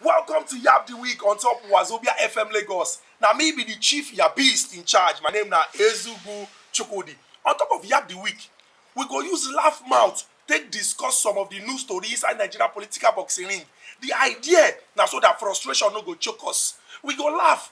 Welcome to Yab the Week on top Wazobia FM Lagos. Now me be the chief Yabist in charge. My name na Ezugu Chukudi. On top of Yab the Week, we go use laugh mouth take discuss some of the news story inside Nigeria political boxing ring. The idea na so that frustration no go choke us. We go laugh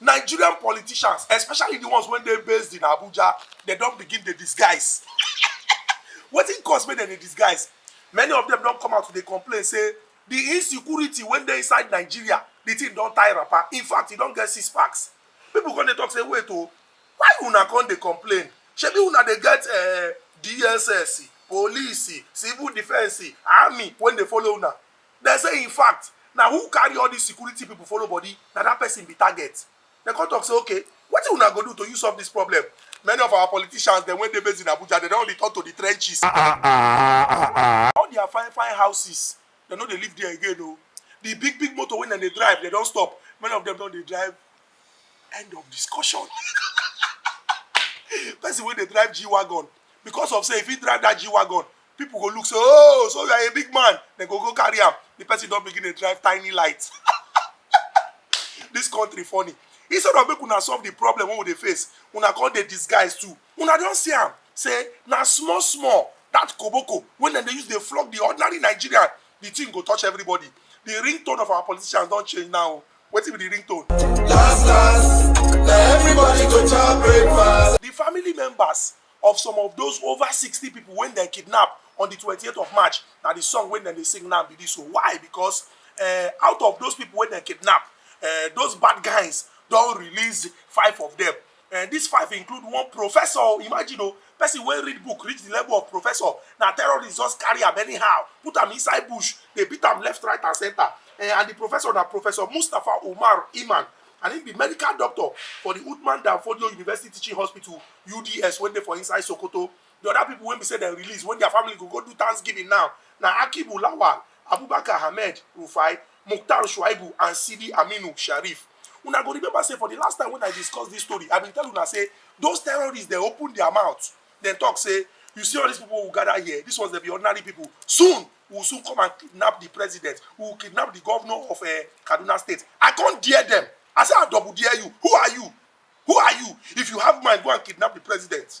nigerian politicians especially the ones wey dey based in abuja they don begin dey disguise wetin cause make dem dey disguise many of them don come out to dey complain say the insecurity wey dey inside nigeria the thing don tie wrapper in fact e don get six packs people come dey talk say wait o why una come dey complain shebi una dey get uh, dss police civil defence army wey dey follow una Dem say in fact, na who carry all dis security pipo follow body, na dat pesin be target. Dem come tok say, Okay, wetin una go do to use solve dis problem? Many of our politicians dem wey dey based in Abuja, dem don return to di trenches. All dia fine fine houses, dem no dey live there again o. Di big big motor wey dem dey drive, dem don stop. Many of dem don dey drive End of discussion. Person wey dey drive G-Wagon because of say if he drive that G-Wagon, people go look say, oh, so you are a big man. They go go carry am. The person don begin dey drive tiny light. This country funny. Instead of make una solve the problem wey we dey face, una come dey disguise too. Una don see am say na small small that koboko wey dem dey use dey flog the ordinary Nigerian, the thing go touch everybody. The ringtone of our politicians don change now. wetin be the ringtone? Last last, na everybody go chop breakfast. Di family members of some of those over sixty pipo wey dem kidnap on di twenty eight of March na di song wey dem dey sing now be dis o. Why? Because um out of those pipo wey dem kidnap, um those bad guys don release five of dem. and dis five include one professor oh, imagine o oh, person wey read book reach the level of professor na terrorist just carry am anyhow put am inside bush dey beat am left right and center eh, and the professor na professor mustapha umar iman and him be medical doctor for the Uthman Danfodio University Teaching Hospital UDS wey dey for inside Sokoto the other people wey be say dem release when their family go go do thanksgiving now na Akibu Lawal Abubakar Ahmed Rufai Mukhtar Shuaibu and Sidi Aminu Sharif. Una go remember say for di last time wen I discuss dis story, I bin tell una say those terrorists dem open dia mouth, dem tok say, You see all dis pipo wey we gada here, dis ones dem be ordinary pipo. Soon, we will soon come and kidnap di president, we will kidnap di govnor of um Kaduna State. I come dare dem, I say I double dare you, who are you? Who are you? If you have mind, go and kidnap di president.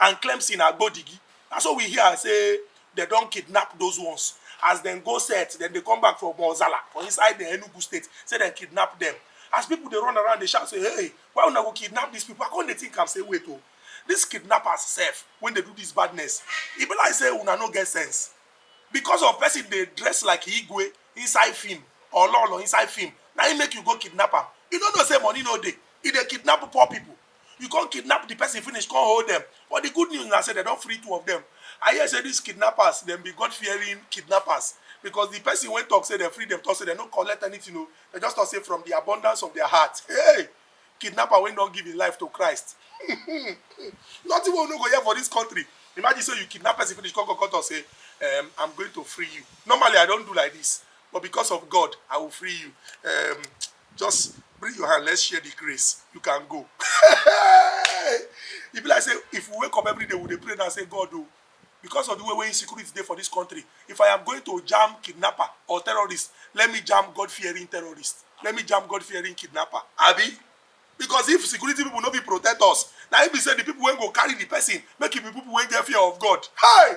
and claim say na gbodigi na so we hear say dem don kidnap those ones as dem go set dem dey come back for mozala for inside the enugu state say dem kidnap dem as people dey run around dey shout say hey why una go kidnap these people i come dey think am say wait o oh, these kidnappers sef wey dey do this badness e be like say una no get sense because of person dey dress like igwe inside film or lolo inside film na im make you go kidnap am you no know say money no dey e dey kidnap poor people you come kidnap the person finish come hold them but the good news na say dem don free two of them i hear say these kidnappers dem be god fearing kidnappers because the person wey talk say dem free dem talk say dem no collect anything o dem just talk say from the abundance of their heart hey kidnapper wey don give him life to christ nothing wey we no go hear for this country imagine say you kidnap person finish come come come talk say um, i'm going to free you normally i don do like this but because of god i will free you um, just bring your hand let's share the grace you can go e be like say if we wake up every day we dey pray now say god o oh, because of the way wey insecurity dey for this country if i am going to jam kidnapper or terrorist let me jam god fearing terrorist let me jam god fearing kidnapper abi because if security people no fit protect us na im be say the people wey go carry the person make e be people wey get fear of god hey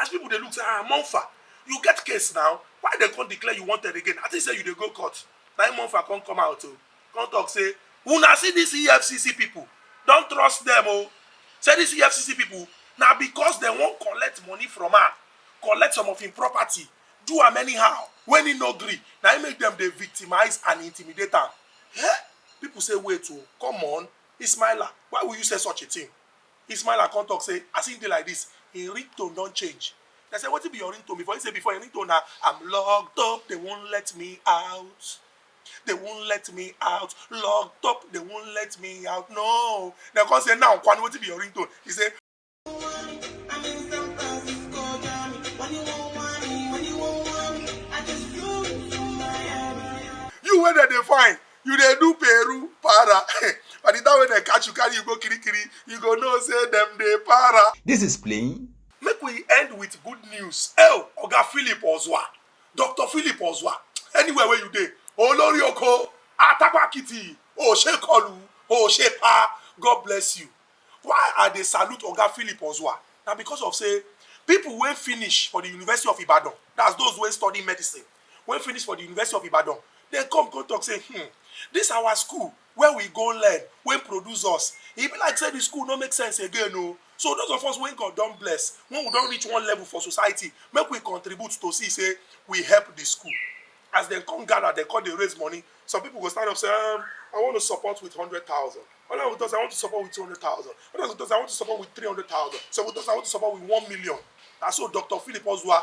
as people dey look say ah monfa you get case now why dem come declare you wanted again i think say you dey go court na im monfa come come out o oh. come talk say una see dis efcc people don trust dem o oh. say dis efcc people na because dem wan collect money from am collect some of im property do am anyhow when he no gree na im make dem dey victimize and intimidate am eh people say wait o oh, come on ismaila why will you say such a thing Ismaila come talk say as him dey like this, him ringtone don change. Dem say wetin be your ringtone before? Him say before him ringtone na I'm locked up, they won't let me out, they won't let me out, locked up, they won't let me out, no. Dem come say now kwanu wetin be your ringtone? He say. You wey dem dey find, you dey do peru para by the time wey dem catch you carry you go kirikiri you go know say dem dey para. This is playing. make we end with good news el oga philip ozwa dr philip ozwa anywhere wey you dey olori oko atakwakiti oshekolu oshepa god bless you why i dey salute oga philip ozwa na because of say people wey finish for the university of ibadan that's those wey study medicine wey finish for di university of ibadan dem come come talk say hmm dis our school wey we go learn wey produce us e be like say di school no make sense again o so those of us wey god don bless when we don reach one level for society make we contribute to see say we help di school as dem come gather dem come dey raise money some people go stand up say um, i want to support with hundred thousand others go talk say i want to support with two hundred thousand others go talk say i want to support with three hundred thousand some go talk say i want to support with one million na so dr philip ozua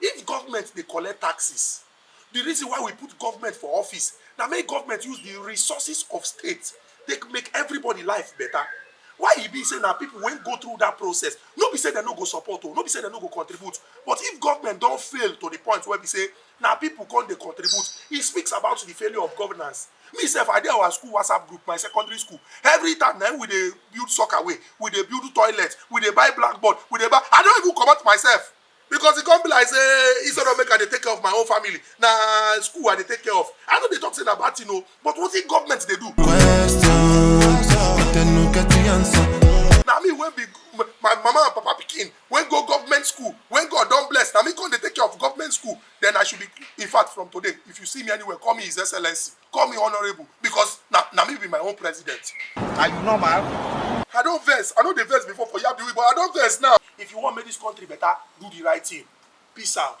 If government dey collect taxes, di reason why we put government for office na make government use di resources of state take make everybody life better. Why e be say na people wey go through that process, no be say dem no go support o, no be say dem no go contribute, but if government don fail to di point wey be say na people come dey contribute, it speaks about di failure of governance. Me sef, I dey our school WhatsApp group, my secondary school, every time na im we dey build soccer way, we dey build toilet, we dey buy blackboard, we dey buy, I don even comot myself. because e come be like say instead of make i dey take care of my own family na school i dey take care of i no dey talk say na bad thing o but wetin government dey do Questions, but they no get the answer. na me wey be my my mama and papa pikin wey go government school wey god don bless na me come dey take care of government school then i should be in fact from today if you see me anywhere call me his excellency call me honourable because na na me be my own president. are you normal. i don vex i no dey vex before for yabiwi but i don vex now. if you wan make dis country better do the right thing peace out.